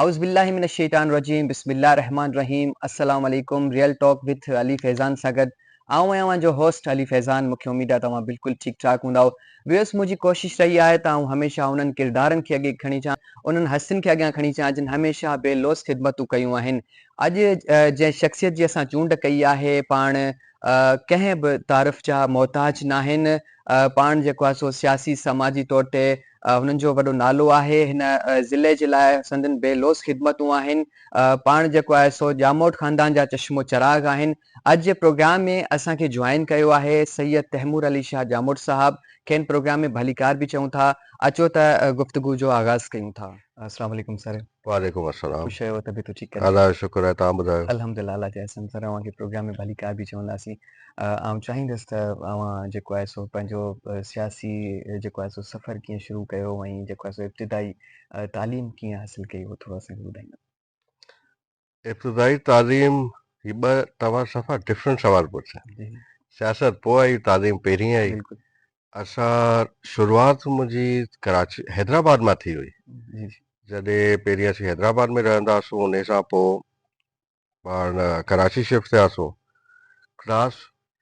اعوذ بالله من الشيطان الرجيم بسم الله الرحمٰن الرحيم السلام عليڪم real talk with Ali Faizan سان گڏ آئون آهيان اوهان جو هوسٽ علي فيضان مونکي اميد آهي ته اوهان بلڪل ٺيڪ ٺاڪ هوندائو ويوس منهنجي ڪوشش رهي آهي ته آئون هميشه انهن ڪردارن کي اڳي کڻي اچان انهن هستين کي اڳيان کڻي اچان جن هميشه بي لوث خدمتون ڪيون آهن اڄ جنهن شخصيت جي اسان چونڊ ڪئي آهي پاڻ ڪنهن به تعارف جا محتاج ناهن پاڻ جيڪو آهي سو سياسي سماجي طور تي هنن جو وڏو نالو آهي، هن ضلعي جي لاء سندن بي لوث خدمتون آهن، پاڻ جيڪو آهي سو ڄاموٽ خاندان جا چشم و چراغ آهن، اڄ جي پروگرام ۾ اسان کي جوائن ڪيو آهي سيد تيمور علي شاهه ڄاموٽ صاحب، کين پروگرام ۾ ڀليڪار به چئون ٿا، اچو ته گفتگو جو آغاز ڪيون ٿا. السلام عليڪم سر. وعليڪم السلام خوش آهيو طبيعت ٺيڪ ڪري الله جو شڪر آهي توهان ٻڌايو. الحمد لله الله جي احسن سر اوهان کي پروگرام ۾ ڀلي ڪار به چونداسين آئون چاهيندس ته اوهان جيڪو آهي سو پنهنجو سياسي جيڪو آهي سو سفر ڪيئن شروع ڪيو ۽ جيڪو آهي سو ابتدائي تعليم ڪيئن حاصل ڪئي هو ٿورو اسان کي ٻڌائيندا. ابتدائي تعليم جي ٻه توهان صفا ڊفرنٽ سوال پڇيا سياست پوء آئي تعليم پهرين آئي اسان شروعات منهنجي ڪراچي حيدرآباد مان ٿي هئي جڏهن پهرين اسين حيدرآباد ۾ رهندا هئاسون ان سان پوء پاڻ ڪراچي شفٽ ٿياسون ڪلاس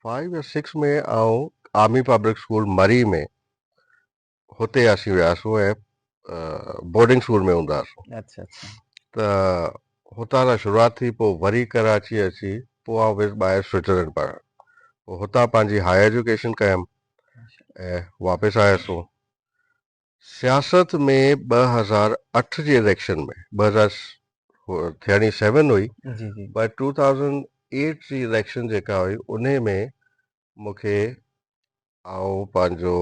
فائيو يا سڪس ۾ آئون آرمي پبلڪ اسڪول مري ۾ هتي اسين وياسون ۽ بورڊنگ سور ۾ هوندا هئاسون اڇا اڇا ته هتان سان شروعات ٿي پوء وري ڪراچي اچي پوء آئون ويس ٻاهر سوئٽزرلينڊ پڙهڻ پوء هتان پنهنجي هاء ايجوڪيشن ڪيم ۽ واپس آياسون سياست ۾ ٻه هزار اٺ جي اليڪشن ۾ ٻه هزار ٿيڻي سيون هئي جي جي پر ٽو ٿائوزنڊ ايٽ جي اليڪشن جيڪا هئي انهي ۾ مون کي آئون پنهنجو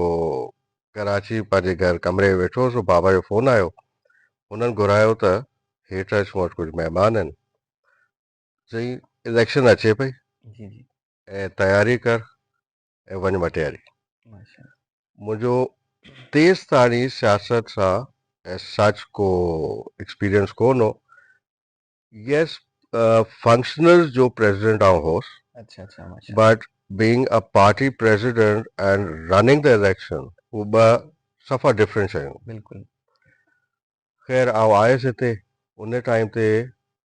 ڪراچي پنهنجي گهر ڪمري ۾ ويٺو هوس بابا جو فون آيو هنن گهرايو ته هيٺ اچ مون وٽ ڪجهه مهمان آهن سائين اليڪشن اچي پئي جي جي ۽ تياري ڪر ۽ وڃ مٽياري ماشاء الله منهنجو تيس تاڻي سياست سان as such ڪو ايڪسپيرينس ڪون هو Yes, functioners جو پريزيڊنٽ آئون هوس. اڇا اڇا ماشاء الله. But being a party president and running the election هو ٻه صفا ڊفرنٽ شيون. بلڪل. خير آئون آيس هتي ان ٽائيم تي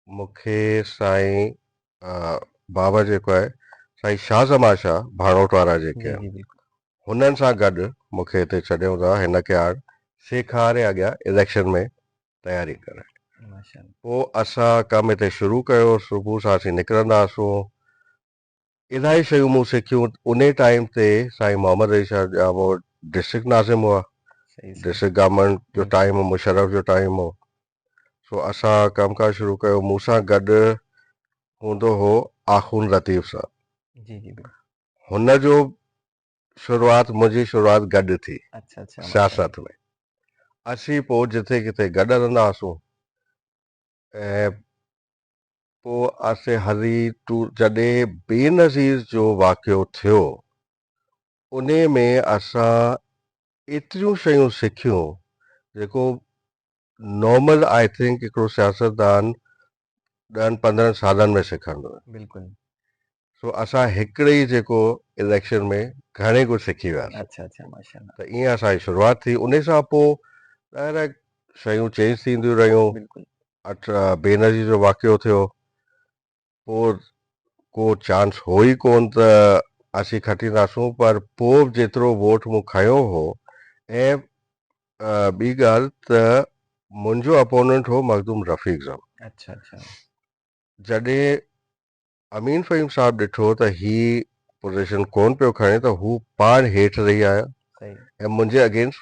مون کي سائين بابا جيڪو آهي سائين شاھ زمان شاھ ڀانوٽ وارا جيڪي جي آهن جي بلڪل. هنن سان گڏ مون کي هتي ڇڏيون ٿا هن ڪياڙ سيکاري اڳيان اليڪشن ۾ تياري ڪرڻ پوء اسان ڪم اتي شروع ڪيو صبح سان اسين نڪرندا هئاسون الائي شيون مون سکيون انهي ٽائيم تي سائين محمد رئيس شاهه ڄامو ڊسٽرڪٽ ناظم هئا ڊسٽرڪٽ گورنمينٽ جو ٽائيم هو مشرف جو ٽائيم هو سو اسان ڪم ڪار شروع ڪيو مون سان گڏ هوندو هو آخوند لطيف صاحب هن جو شروعات منهنجي شروعات گڏ ٿي سياست ۾ اسين پوء جتي ڪٿي گڏ هلندا هئاسون ۽ پوء اسين هلي ٽور جڏهن بينظير جو واقعو ٿيو انهي ۾ اسان ايتريون شيون سکيون جيڪو نارمل آء ٿنڪ هڪڙو سياستدان ڏهن پندرهن سالن ۾ سکندو بلڪل سو اسان هڪڙي ئي جيڪو اليڪشن ۾ گهڻي ڪجهه سکي وياسين اڇا اڇا ماشاءالله ته ائين اسان جي شروعات ٿي انهي سان پو ڏاهرڪ شيون چينج ٿينديون رهيون بلڪل اٺ بينظير جو واقعو ٿيو پوء ڪو چانس هو ئي ڪونه ته اسين کٽينداسون پر پوء به جيترو ووٽ مون کنيو هو ۽ ٻي ڳالهه ته منهنجو اپوننٽ هو مخدوم رفيق زم اڇا اڇا جڏهن امين فهيم صاحب ڏٺو ته هي پوزيشن ڪونه پيو کڻي ته هو پاڻ هيٺ رهي آيو صحيح ۽ منهنجي اگينسٽ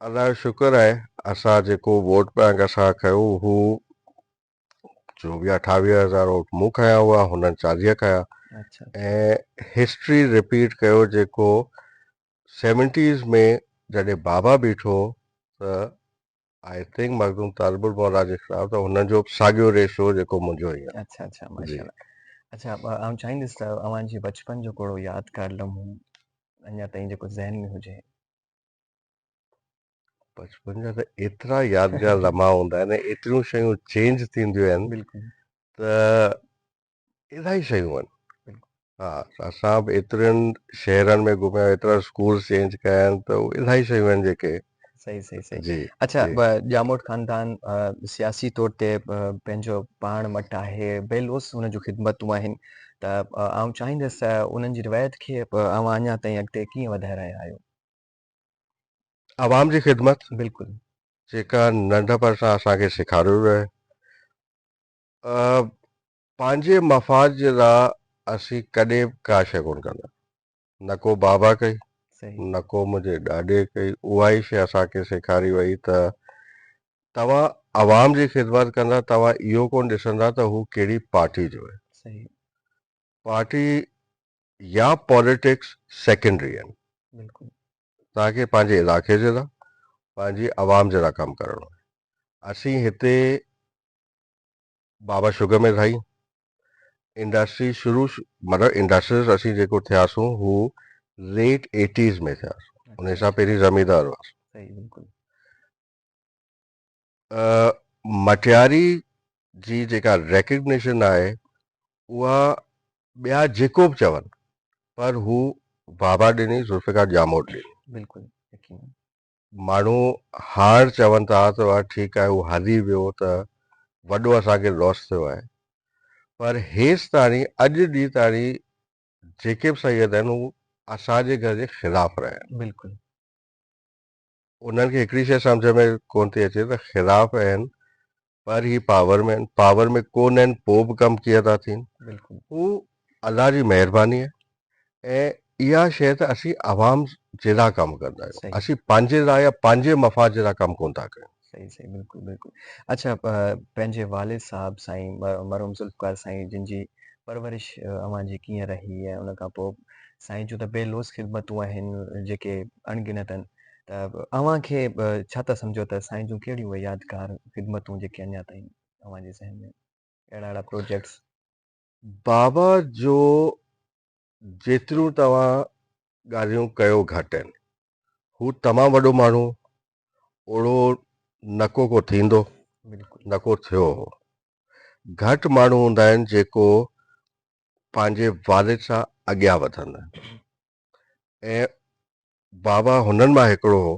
الله جو شڪر آهي اسان جيڪو ووٽ پنهنجا اسان کنيو هو چوويهه اٺاويهه هزار ووٽ مون کنيا هئا هنن چاليهه کنيا اچھا ۽ هسٽري رپيٽ ڪيو جيڪو سيونٽيز ۾ جڏهن بابا بيٺو ته آئي ٿنڪ مخدوم طالب الموليٰ جي خلاف ته هنن جو به ساڳيو ريس هو جيڪو منهنجو هي اچھا اچھا جي ماشاء الله اچھا ب- آئون چاهيندس ته اوهان جي بچپن جو ڪهڙو يادگار لمحو اڃا تائين جيڪو ذهن ۾ هجي بچپن جا ته ايترا يادگار لمحا هوندا آهن ايتريون شيون چينج ٿينديون آهن بلڪل ته الاهي شيون آهن ها اسان به ايترين شهرن ۾ گهميا ايترا اسڪول چينج ڪيا آهن ته الاهي شيون آهن جيڪي صحيح صحيح صحيح جي اچھا جي ڄاموٽ خاندان سياسي طور تي پنهنجو پاڻ مٽ آهي بيلوس هن جون خدمتون آهن ته آئون چاهيندس انهن جي روايت کي اوهان اڃا تائين اڳتي ڪيئن وڌائي رهيا آهيو عوام جي خدمت بلڪل جيڪا ننڍپڻ سان اسان کي سيکاريو ويو آهي پنهنجي مفاد جي لا اسين ڪڏهن به ڪا شيء ڪونه ڪندا نه ڪو بابا ڪئي نه ڪو منهنجي ڏاڏي ڪئي اها ئي شيء اسان کي سيکاري وئي ته توهان عوام جي خدمت ڪندا توهان اهو ڪونه ڏسندا ته هو ڪهڙي پارٽي جو آهي پارٽي يا پاليٽڪس سيڪنڊري آهن بلڪل توهان کي پنهنجي علاقي جي لا پنهنجي عوام جي لا ڪم ڪرڻو آهي اسين هتي بابا شگر مل هئي انڊسٽري شروع مطلب انڊسٽريز اسين جيڪو ٿياسون هو ليٽ ايٽيز ۾ ٿياسون ان سان پهرين زميندار هئاسون مٽياري جي جيڪا ريڪگنيشن آهي اها ٻيا جيڪو به چون پر هو بابا ڏني ذوالفقار ڄاموٽ ڏني بلڪل يقينن ماڻهو هاڻ چون ٿا ته ٺيڪ آهي هو هلي ويو ته وڏو اسان کي لوس ٿيو آهي پر هيس تاڻي اڄ ڏينهن تاڻي جيڪي به سيد آهن هو اسان جي گهر جي خلاف رهيا آهن بلڪل انهن کي هڪڙي شيء سمجهه ۾ ڪونه ٿي اچي ته خلاف آهن پر هي پاور ۾ آهن پاور ۾ ڪونه آهن پوء به ڪم ڪيئن ٿا ٿين بلڪل هو الله جي مهرباني آهي ۽ اها شيء ته اسين عوام جي لاء ڪم ڪندا آهيون صحيح. اسين پنهنجي لاء يا پنهنجي مفاد جي لاء ڪم ڪونه ٿا ڪيون صحيح صحيح بلڪل بلڪل اڇا پنهنجي والد صاحب سائين مرحوم ذوالفقار سائين جن جي پرورش اوهان جي ڪيئن رهي ۽ ان کان پوء سائين جون ته بي لوث خدمتون آهن جيڪي اڻ گنت آهن ته اوهان کي ڇا ٿا سمجهو ته سائين جون ڪهڙيون اهي يادگار خدمتون جيڪي اڃا تائين اوهان جي ذهن ۾ اهڙا اهڙا پروجيڪٽس بابا جو جيتريون توهان ڳالهيون ڪيو گهٽ آهن هو تمام وڏو ماڻهو اوڙو نڪو ڪو ٿيندو نڪو ٿيو هو گهٽ ماڻهو هوندا آهن جيڪو پنهنجي والد سان اڳيان وڌن ۽ بابا هنن مان هڪڙو هو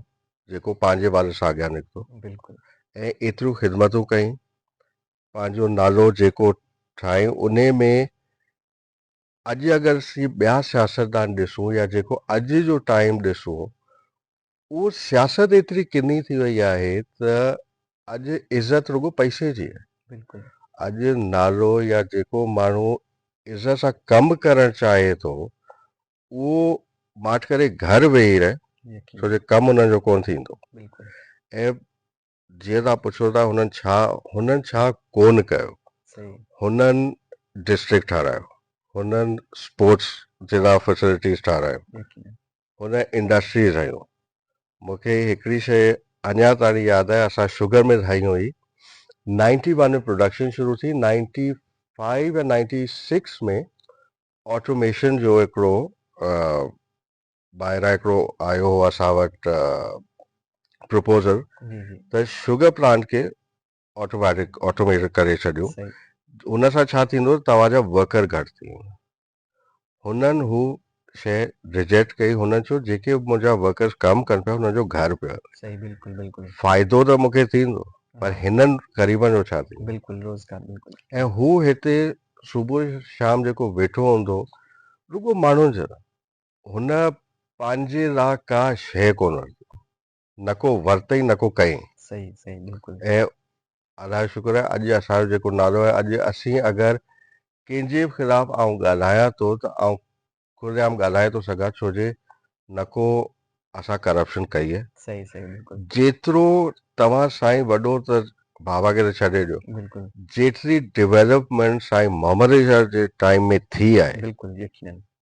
جيڪو پنهنجي والد سان اڳيان نڪتو بلڪل ۽ ايتريون خدمتون ڪئي پنهنجو نالو جيڪو ٺاهي انهي ۾ اڄ اگر اسين ٻيا سياستدان ڏسون يا جيڪو اڄ جو ٽائيم ڏسون اهو سياست ايتري ڪني ٿي وئي آهي ته اڄ عزت رڳو پئسي جي بلڪل اڄ نالو يا جيڪو ماڻهو عزت سان ڪم ڪرڻ چاهي ٿو اهو ماٺ ڪري گهر ويهي رهي ڇو جو ڪم ان جو ڪون ٿيندو ۽ جيئن تان پڇو ٿا هنن ڇا هنن ڇا ڪون ڪيو هنن ڊسٽرڪٽ ٺارايو هنن اسپورٽس جي لا فيسلٽيز ٺارايون هنن انڊسٽريز هنيون مونکي هڪڙي شي اڃا تائين ياد آهي اسان شگر مل هنئي هئي نائنٽي ون ۾ پروڊڪشن شروع ٿي نائنٽي فائيو يا نائنٽي سڪس ۾ آٽوميشن جو هڪڙو ٻاهران هڪڙو آيو هو اسان وٽ پروپوزل ته شوگر پلانٽ کي آٽوميٽڪ آٽوميٽ ڪري ڇڏيو ان سان ڇا ٿيندو توهان جا ورڪر گهٽ ٿي ويندا هنن هو شي ريجيڪٽ ڪئي هنن چيو جيڪي منهنجا ورڪرز ڪم ڪن پيا هنن جو گهر پيو صحيح بلڪل بلڪل فائدو ته مونکي ٿيندو پر هنن غريبن جو ڇا ٿيندو بلڪل روزگار بلڪل ۽ هو هتي صبح شام جيڪو ويٺو هوندو رڳو ماڻهن جو هن پنهنجي لاء ڪا شيء ڪونه رکي، نه ڪو ورتئي نه ڪو ڪئين. صحيح صحيح بلڪل. ۽ الله جو شڪر آهي اڄ اسان جو جيڪو نالو آهي اڄ اسين اگر ڪنهن جي به خلاف آئون ڳالهايان ٿو ته آئون کلي عام ڳالهائي ٿو سگهان ڇو جي نه ڪو اسان ڪرپشن ڪئي آهي. صحيح صحيح بلڪل. جيترو توهان سائين وڏو ته بابا کي ته ڇڏي ڏيو بلڪل. جيتري ڊولپمينٽ سائين محمد علي شاهه جي ٽائيم ۾ ٿي آهي بلڪل يقينن.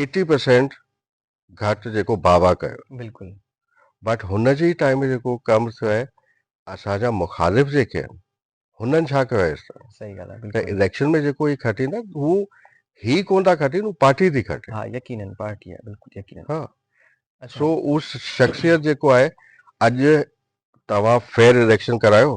ايٽي پرسينٽ گهٽ جيڪو بابا ڪيو بلڪل بٽ هن جي ٽائيم جيڪو ڪم ٿيو آهي اسان جا مخالف جيڪي آهن هنن ڇا ڪيو آهي سهي ڳالهه آهي ته اليڪشن ۾ جيڪو هي کٽين ٿا هو هي ڪون ٿا کٽين هو پارٽي ٿي کٽي ها يقينن پارٽي آهي بلڪل يقينن ها سو هو شخصيت جيڪو آهي اڄ توهان فيئر اليڪشن ڪرايو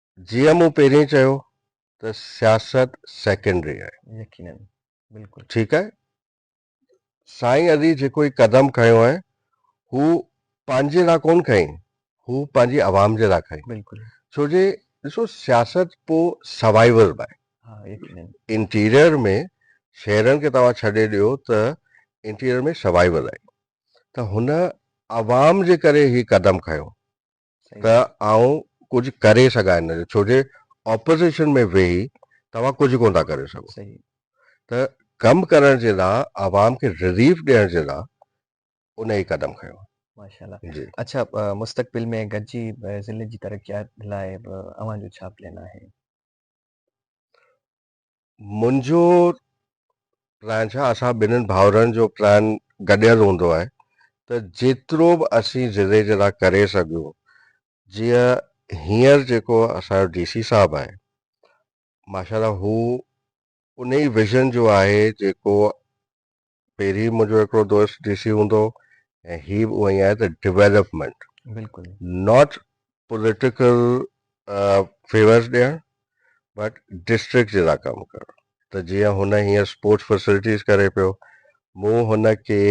جيئن مون پهرين چيو ته سياست سيڪنڊري آهي. يقيناً بلڪل. ٺيڪ آهي سائين علي جيڪو هي قدم کنيو آهي هو پنهنجي لا ڪون کنئي هو پنهنجي عوام جي لا کنئي بلڪل. ڇو جي ڏسو سياست پو سوائيول به آهي. ها يقيناً. انٽيريئر ۾ شهرن کي توهان ڇڏي ڏيو ته انٽيريئر ۾ سوائيول آهي ته هن عوام جي ڪري هي قدم کنيو ته آئون ڪجهه ڪري سگهان ان جو ڇوجي آپوزيشن ۾ ويهي توهان ڪجهه ڪونه ٿا ڪري سگهو ته ڪم ڪرڻ جي لا عوام کي رليف ڏيڻ جي لا ان هي قدم کنيو آهي اڇا مستقبل ۾ گڏجي ضلعي جي ترقيات لاء به اوهان جو ڇا پلان آهي؟ منهنجو پلان ڇا اسان ٻنهن ڀائرن جو پلان گڏيل هوندو آهي ته جيترو به اسين ضلعي جي لاء ڪري سگهيون جيئن هينئر جيڪو اسان جو ڊي سي صاحب آهي ماشاء الله هو انهي ويزن جو آهي جيڪو پهرين منهنجو هڪڙو دوست ڊي سي هوندو ۽ هي به اونئي آهي ته ڊويلپمينٽ بلڪل ناٽ پوليٽيڪل فيورز ڏيڻ بٽ ڊسٽرڪٽ جي لا ڪم ڪرڻ ته جيئن هن هيئن اسپورٽس فيسلٽيز ڪري پيو مون هن کي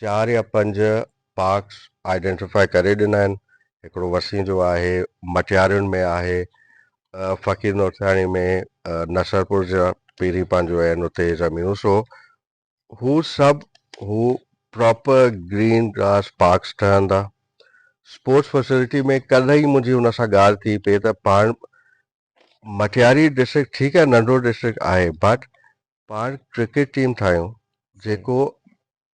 چار يا پنج پارڪس آئيڊينٽيفائي ڪري ڏنا آهن هڪڙو وسين جو آهي مٽيارين ۾ آهي فقير نورسياڻي ۾ نصرپور جا پيري پنهنجو آهن اتي زمينون سو هو سڀ هو پراپر گرين گراس پارڪس ٺهندا اسپورٽس فيسلٽي ۾ ڪلهه ئي منهنجي هن سان ڳالهه ٿي پئي ته پاڻ مٽياري ڊسٽرڪٽ ٺيڪ آهي ننڍو ڊسٽرڪٽ آهي بٽ پاڻ ڪرڪيٽ ٽيم ٺاهيون جيڪو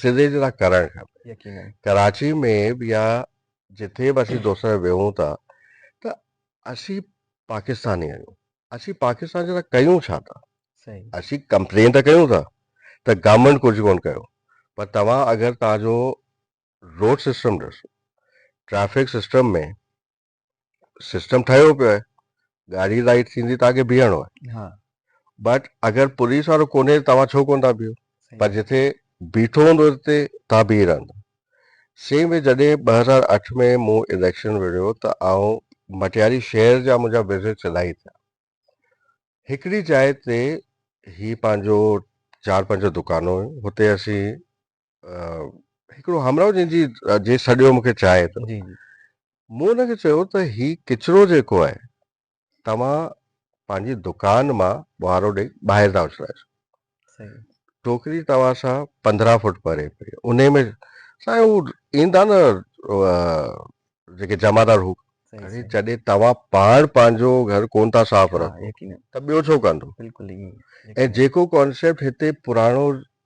سڌي سڌا ڪرڻ کپن ڪراچي ۾ به يا جتي به اسين دوست ويهون ٿا ته اسين پاڪستاني آهيون اسين پاڪستان جا ڪيون ڇا ٿا اسين ڪمپلين ته ڪيون ٿا ته گورنمنٽ ڪجهه ڪون ڪيو پر توهان اگر تنهنجو روڊ سسٽم ڏسو ٽريفڪ سسٽم ۾ سسٽم ٺهيو پيو آهي گاڏي رائٽ ٿيندي تان کي بيهڻو آهي ها بٽ اگر پوليس وارو ڪونهي توهان ڇو ڪون ٿا بيهو پر جتي بيٺو هوندو اتي توهان بيهي رهندا سيم وي جڏهن ٻه هزار اٺ ۾ مون اليڪشن وڙهيو ته آئون مٽياري شهر جا منهنجا وزٽس الاهي ٿيا هڪڙي جاء تي هي پنهنجو چار پنج دڪانون هتي اسين هڪڙو همراهه جنهن جي جي سڏيو مونکي چاهي ته جي جي مون هن کي چيو ته هي ڪچرو جيڪو آهي توهان پنهنجي دڪان مان ٻوهارو ڏئي ٻاهر ٿا اڇلائجو صحيح ٽوڪري توهان سان پندرهن فوٽ پري پئي ان ۾ سائين هو ايندا نه جيڪي جمعدار هو ۽ جڏهن توهان پاڻ پنهنجو گهر ڪون ٿا صاف رکو ته ٻيو ڇو ڪندو بلڪل ۽ جيڪو ڪانسيپٽ هتي پراڻو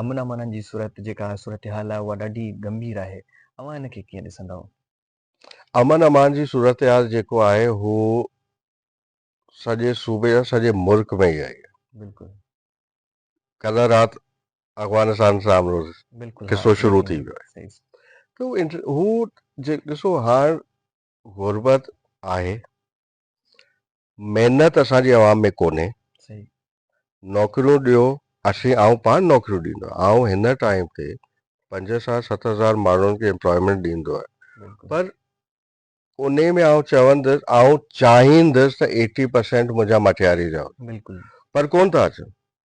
امن امانن جي صورت جيڪا صورتحال آهي اها ڏاڍي ڳنڀير آهي اوهان ان کي ڪيئن ڏسندؤ؟ امن امان جي صورتحال جيڪو آهي هو سڄي صوبي يا سڄي ملڪ ۾ ئي آهي بلڪل ڪلهه رات افغانستان سان آمرو بلڪل قصو ها شروع ٿي ويو صحيح صحيح ته هو جي ڏسو هاڻ غربت آهي محنت اسان جي عوام ۾ ڪونهي نوڪريون ڏيو اسين آئون پاڻ نوڪريون ڏيندو آئون هن ٽائيم تي پنج سان ست هزار ماڻهن کي امپلائمينٽ ڏيندو آهي پر ان ۾ آئون چوندس آئون چاهيندس ته ايٽي پرسينٽ منهنجا مٽياري رهن بلڪل پر ڪون ٿا اچن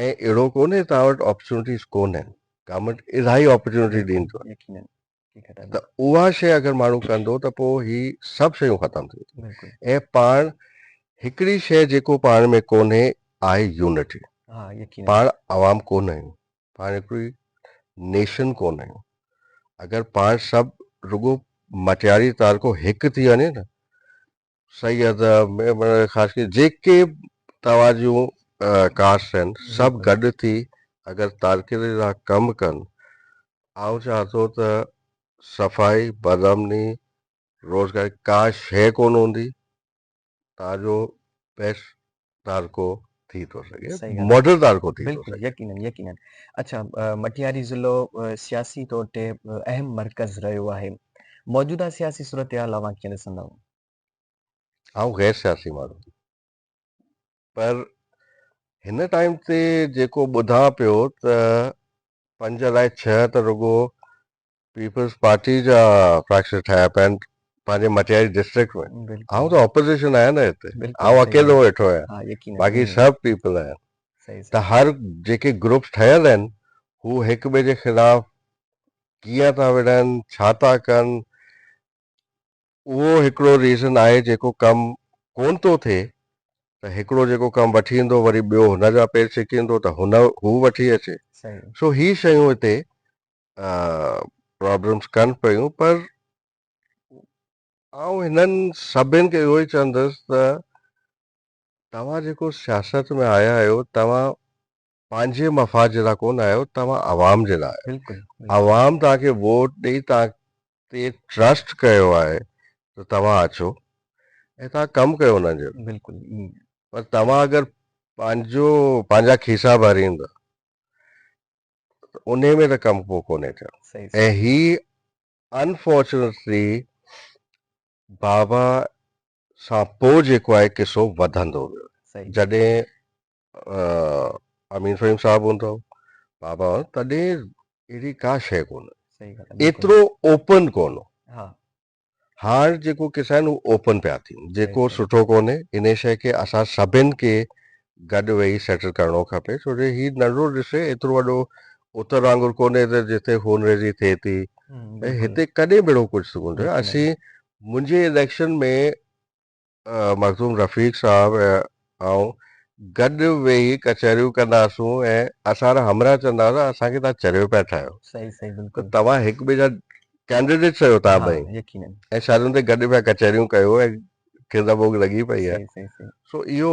ائين اهڙو ڪونهي توهان وٽ آپرچونٽيز ڪونهن گورنمينٽ الاهي آپرچونٽي ڏين ٿو ته اها شيء اگر ماڻهو ڪندو ته پوء هي سڀ شيون ختم ٿي وينديون ۽ پاڻ هڪڙي شيء جيڪو پاڻ ۾ ڪونهي آهي يونٽي پاڻ عوام ڪونه آهيون پاڻ هڪڙي نيشن ڪونه آهيون اگر پاڻ سڀ رڳو مٽياري تعلقو هڪ ٿي وڃي نه صحيح آ ته خاص ڪري جيڪي توهان جون ڪاسٽ آهن سڀ گڏ ٿي اگر تارڪين لاء ڪم ڪن آئون چاهان ٿو ته صفائي بدامني روزگار ڪا شيء ڪون هوندي تان جو بيسٽ تارڪو ٿي ٿو سگهي ماڊل تارڪو ٿي ٿو سگهي يقينن يقينن اڇا مٽياري ضلعو سياسي طور تي اهم مرڪز رهيو آهي موجوده سياسي صورتحال اوهان کي ڏسندو آئون غير سياسي ماڻهو پر هن ٽائيم تي جيڪو ٻڌان پيو ته پنج الاء ڇهه ته رڳو پيپلز پارٽي جا فراڪشن ٺاهيا پيا آهن پنهنجي مٽياري ڊسٽرڪٽ ۾ بلڪل آئون ته اپوزيشن آهيان نه هتي بلڪل آئون صحيح اڪيلو ڳالهه ويٺو آهيان ها يقينن باقي ائين سڀ پيپل آهن صحيح ته صحيح هر جيڪي گروپس ٺهيل آهن هو هڪ ٻئي جي خلاف ڪيئن ٿا وڙهن ڇا ٿا ڪن اهو هڪڙو ريزن آهي جيڪو ڪم ڪون ٿو ٿئي ته هڪڙو جيڪو ڪم وٺي ايندو وري ٻيو هن جا پير ڇڪيندو ته هن هو وٺي اچي صحيح سو هي شيون هتي پرابلمس ڪن پيون پر آئون هنن سڀن کي اهو ئي چوندس ته توهان جيڪو سياست ۾ آيا آهيو توهان پنهنجي مفاد جي لاء ڪون آيو توهان عوام جي لاء آيو عوام توهان کي ووٽ ڏئي توهان تي ٽرسٽ ڪيو آهي ته توهان اچو ۽ توهان ڪم ڪيو انهن جو بلڪل پر توهان اگر پنهنجو پنهنجا کيسا ڀريندا انهي ۾ ته ڪم ڪو ڪونهي ٿيو صحيح ۽ هي انفارچونيٽلي بابا سان پوء جيڪو آهي قصو وڌندو ويو صحيح جڏهن آه، امين فهيم صاحب هوندو بابا هوندو، تڏهن اهڙي ڪا شيء ڪونه صحيح ڳالهه آهي، بلڪل. ايترو اوپن ڪونه ها هاڻ جيڪو قصا آهن اهي اوپن پيا ٿين جيڪو سٺو ڪونهي انهي شئي کي اسان سڀن کي گڏ ويهي سيٽل ڪرڻو کپي ڇو جو هي ننڍڙو ڏسي ايترو وڏو اتر وانگر ڪونهي ته جتي خون ريزي ٿئي ٿي هتي ڪڏهن به اهڙو ڪجهه ٿي ڪونه ٿيو اسين منهنجي اليڪشن ۾ مخدوم رفيق صاحب ۽ آئون گڏ ويهي ڪچهريون ڪنداسون ۽ اسان را همراهه چوندا هئا ته اسان کي توهان چريو پيا ٺاهيو. صحيح صحيح بلڪل. ته توهان هڪ ٻئي جا ڪينڊيڊيٽس آهيو توهان ها ٻئي يقينن. ۽ شادين تي گڏ پيا ڪچهريون ڪيو ۽ کيندا ڀوڳ لڳي پئي آهي. صحيح صحيح صحيح. سو اهو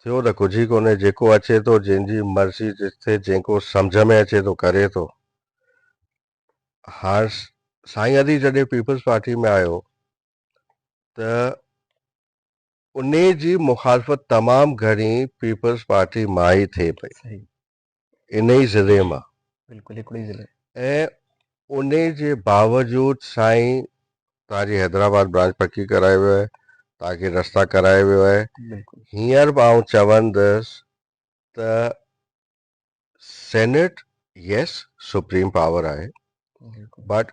ٿيو ته ڪجهه ئي ڪونهي، جيڪو اچي ٿو جنهن جي مرضي جتي جيڪو سمجهه ۾ اچي ٿو ڪري ٿو. هاڻ سائين علي جڏهن پيپلز پارٽي ۾ آيو ته انهي جي مخالفت تمام گهڻي پيپلز پارٽي مان ئي ٿئي پئي. انهي ضلعي مان. بلڪل هڪڙو ئي ضلعو. ۽ انهي جي باوجود سائين توهان جي حيدرآباد برانچ پڪي ڪرائي ويو آهي توهان کي رستا ڪرائي ويو آهي بلڪل. هينئر به آئون چوندس ته سينيٽ يس سپريم پاور آهي بٽ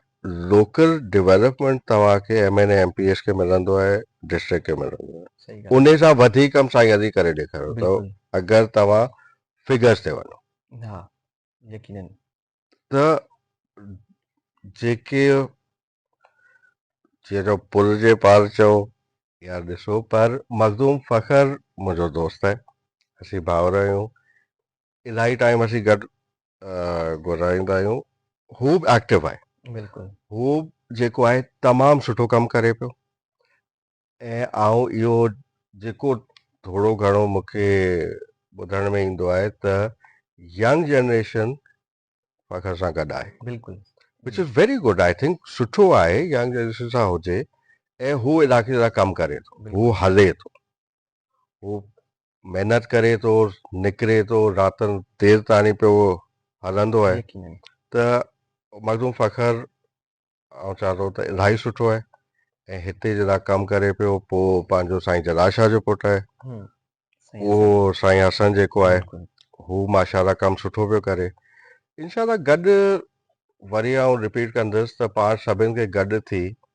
لوڪل ڊيولپمنٽ توهان کي M N M P S کي ملندو آهي ڊسٽرڪٽ کي ملندو آهي ان سان وڌيڪ ڪم سائين علي ڪري ڏيکاريو اٿو اگر توهان فگرز تي وڃو ها يقينن ته جيڪي جي جو پل جي پار چئو يا ڏسو پر مخدوم فخر منهنجو دوست آهي اسين ڀاور آهيون الاهي ٽائيم اسين گڏ گذاريندا آهيون هو به ايڪٽو آهي بلڪل هو جيڪو آهي تمام سٺو ڪم ڪري پيو ۽ آئون اهو جيڪو ٿورو گهڻو مونکي ٻڌڻ ۾ ايندو آهي ته ينگ جنريشن فخر سان گڏ آهي بلڪل which is very good I think سٺو آهي ينگ جنريشن سان هجي ۽ هو علائقي جا ڪم ڪري ٿو هو هلي ٿو هو محنت ڪري ٿو نڪري ٿو راتن دير تائين پيو هلندو آهي ته مخدوم فخر آئون چوان ٿو ته الاهي سٺو آهي ۽ هتي جڏهن ڪم ڪري پيو پوء پنهنجو سائين جلال شاهه جو پٽ آهي اهو سائين حسن جيڪو آهي هو ماشاء الله ڪم سٺو پيو ڪري انشاء الله گڏ وري آئون رپيٽ ڪندس ته پاڻ سڀني کي گڏ ٿي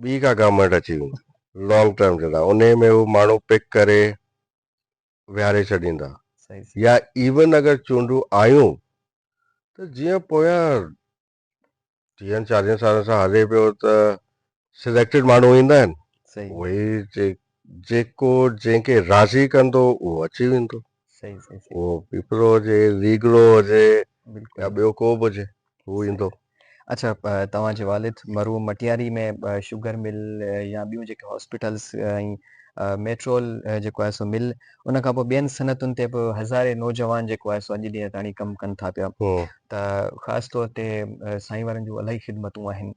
ٻي ڪا گارمينٽ اچي ويندي لانگ ٽرم جي لاء انهي ۾ هو ماڻهو پڪ ڪري ويهاري ڇڏيندا صحيح صحيح يا ايون اگر چونڊون آيون ته جيئن پويان ٽيهن چاليهن سالن سان هلي پيو ته سليڪٽيڊ ماڻهو ايندا آهن صحيح اهي جي جيڪو جنهن کي راضي ڪندو اهو اچي ويندو صحيح صحيح صحيح اهو پيپرو هجي ويگڙو هجي بلڪل يا ٻيو ڪو به هجي هو ايندو. اڇا توهان جي والد مرحوم مٽياري ۾ شگر مل يا ٻيون جيڪي هاسپيٽلس ۽ ميٽرول جيڪو آهي سو مل ان کان پوء ٻين صنعتن تي به هزارين نوجوان جيڪو آهي سو اڄ ڏينهن تاڻي ڪم ڪن ٿا پيا ته خاص طور تي سائين وارن جون الاهي خدمتون آهن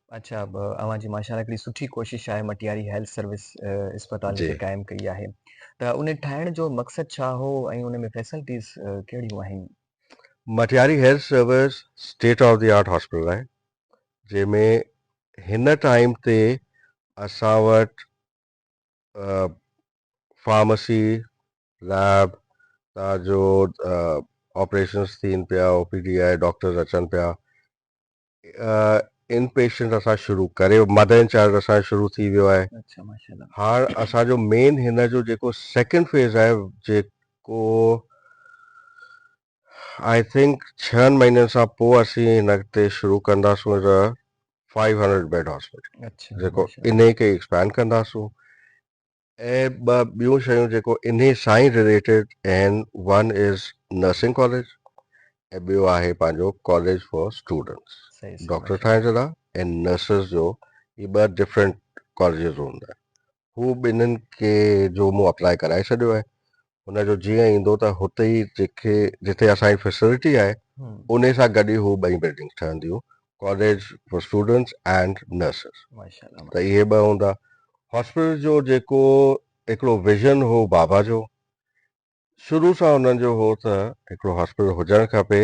اچھا اوھان جي ماشاء الله ھڪڙي سٺي ڪوشش آھي مٽياري ھيلٿ سروس اسپتال جي قائم ڪئي آھي ته ان ٺاھڻ جو مقصد ڇا ھو ۽ ان ۾ فيسلٽيز ڪھڙيون آھن. Matiari health service state of the art hospital آھي جنھن ۾ ھن ٽائيم تي اسان وٽ فارمسي ليب تان جو آپريشنس ٿين پيا او پي ڊي آھي ڊاڪٽرز اچن پيا ان پيشنٽ اسان شروع ڪري مدر ان چائلڊ اسان شروع ٿي ويو آهي اچھا ماشاءالله هاڻ اسان جو مين هن جو جيڪو سيڪنڊ فيز آهي جيڪو آئي ٿنڪ ڇهن مهينن سان پوء اسين هن اڳتي شروع ڪنداسون از ا 500 بيڊ هاسپيٽل اچھا جيڪو ان کي ايڪسپينڊ ڪنداسون ۽ ٻه ٻيون شيون جيڪو انهي سان ئي رليٽيڊ آهن ون از نرسنگ ڪاليج ۽ ٻيو آهي پنهنجو ڪاليج فار اسٽوڊنٽس ڊاڪٽر ٺاهڻ جي لاء ۽ نرسز جو هي ٻه ڊفرنٽ ڪاليجز هوندا آهن هو ٻنهن کي جو مون اپلائي ڪرائي ڇڏيو آهي هن جو جيئن ايندو ته هتي ئي جيڪي جتي اسان جي فيسلٽي آهي ان سان گڏ ئي هو ٻئي بلڊنگس ٺهنديون college for students and nurses ماشاءالله ته اهي ٻه هوندا هاسپيٽل جو جيڪو هڪڙو ويزن هو بابا جو شروع سان هنن جو هو ته هڪڙو هاسپيٽل هجڻ کپي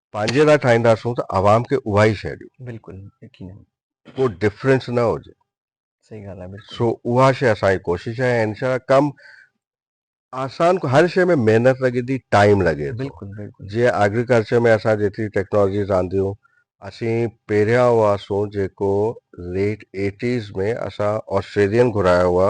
پنهنجي لاء ٺاهينداسون ته عوام کي اها ئي شيء ڏيون. بلڪل يقينن. ڪو ڊفرنس نه هجي. صحيح ڳالهه آهي بلڪل. سو اها شيء اسان جي ڪوشش آهي ۽ انشاء الله ڪم آسان ڪو هر شيء ۾ محنت لڳي ٿي ٽائيم لڳي ٿو بلڪل بلڪل. جيئن ايگريڪلچر ۾ اسان جيتري ٽيڪنالاجيز آنديون اسين پهريان هئاسون جيڪو ليٽ ايٽيز ۾ اسان آسٽريلين گهرايا هئا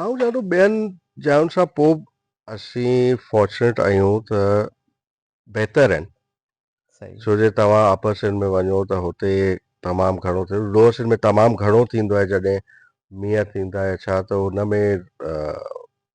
آئون چاهيان ٿو ٻين جاين سان پو به اسين فارچونيٽ آهيون ته بهتر آهن صحيح ڇو جو توهان اپر سنڌ ۾ وڃو ته هتي تمام گهڻو ٿيندو لوور سنڌ ۾ تمام گهڻو ٿيندو آهي جڏهن مينهن ٿيندا آهي ڇا ته ان ۾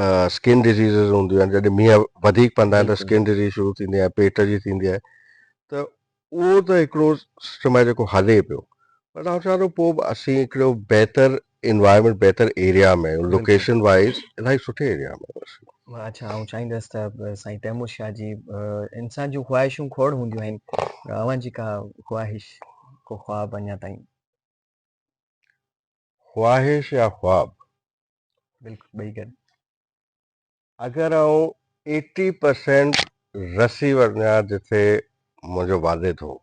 اسڪن ڊزيزز هونديون آهن جڏهن مينهن وڌيڪ پوندا آهن ته اسڪن ڊزيز شروع ٿيندي آهي پيٽ جي ٿيندي آهي ته اهو ته هڪڙو سسٽم آهي جيڪو هلي پيو پر آئون چوان ٿو پوء به اسين هڪڙو بهتر انوائرمنٽ بهتر ايريا ۾ لوڪيشن وائز الاهي سٺي ايريا ۾ اچھا آئون چاهيندس ته سائين تيمور شاهه جي انسان جون خواهشون کوڙ هونديون آهن اوهان جي ڪا خواهش ڪو خواب اڃا تائين خواهش يا خواب بلڪل ٻئي گڏ اگر آئون ايٽي پرسينٽ رسي وڃا جتي منهنجو والد هو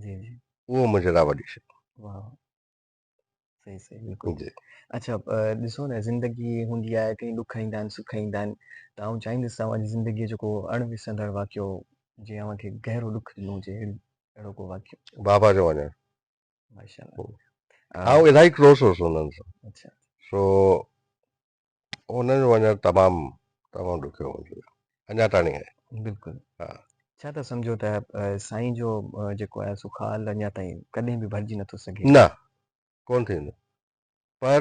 جي جي اهو منهنجي لاء وڏي شيء واهه صحيح صحيح بلڪل جي اڇا ڏسو نه زندگي هوندي آهي ڪي ڏک ايندا آهن سک ايندا آهن ته آئون چاهيندس اوهان جي زندگي جو ڪو اڻ وسرندڙ واقعو جنهن اوهان کي گهرو ڏک ڏنو هجي اهڙو ڪو واقعو بابا جو وڃڻ آئون الاهي ڪلوز هوس انهن سان اچھا سو انهن جو وڃڻ تمام تمام ڏکيو منهنجي لاء اڃا تائين آهي بلڪل ها ڇا ٿا سمجھو ته سائين جو جيڪو آهي سو خال اڃا تائين ڪڏهن به ڀرجي نٿو سگھي نه ڪون ٿيندو پر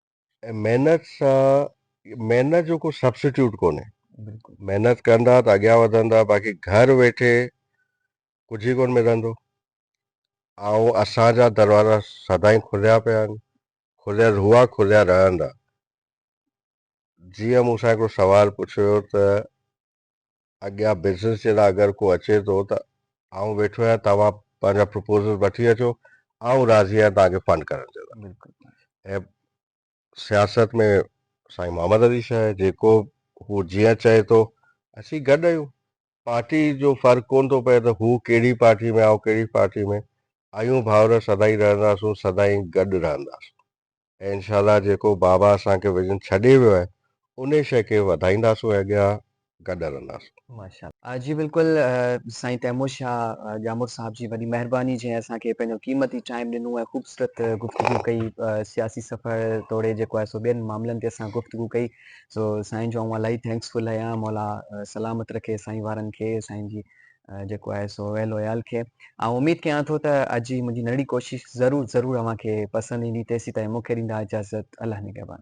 ۽ محنت سان محنت جو ڪو سبسٽيوٽ ڪونهي بلڪل محنت ڪندا ته اڳيان وڌندا باقي گهر ويٺي ڪجهه ئي ڪون ملندو آئون اسان جا دروازا سدائين کليا پيا آهن کليل هئا کليا رهندا جيئن مون سان هڪڙو سوال پڇيو ويو ته اڳيان بزنس جي لاء اگر ڪو اچي ٿو ته آئون ويٺو آهيان توهان پنهنجا پروپوزل وٺي اچو آئون راضي آهيان توهان کي فنڊ ڪرڻ جي لاء ۽ سياست ۾ سائين محمد علي شاهه جيڪو هو جيئن چئي ٿو اسين گڏ آهيون پارٽي جو فرق ڪون ٿو پئي ته هو ڪهڙي پارٽي ۾ آئون ڪهڙي پارٽي ۾ آيون ڀاؤر سدائين رهنداسون سدائين گڏ رهنداسون ۽ انشاء الله جيڪو بابا اسان کي ويزن ڇڏي ويو آهي انهي شئي کي وڌائينداسون ۽ اڳيان گڏ هلنداسون. ماشاء الله جي بلڪل سائين تيمور شاھ ڄامڙ صاحب جي وڏي مهرباني جنهن اسان کي پنهنجو قيمتي ٽائيم ڏنو ۽ خوبصورت گفتگو ڪئي سياسي سفر توڙي جيڪو آهي سو ٻين معاملن تي اسان گفتگو ڪئي سو سائين جو آئون الاهي ٿينڪس فل آهيان مولا سلامت رکي سائين وارن کي سائين جي جيڪو آهي سو ويل ويال کي آئون اميد ڪيان ٿو ته اڄ جي منهنجي ننڍڙي ڪوشش ضرور ضرور اوهان کي پسند ايندي تيسين تائين مون کي ڏيندا اجازت الله نگهبان.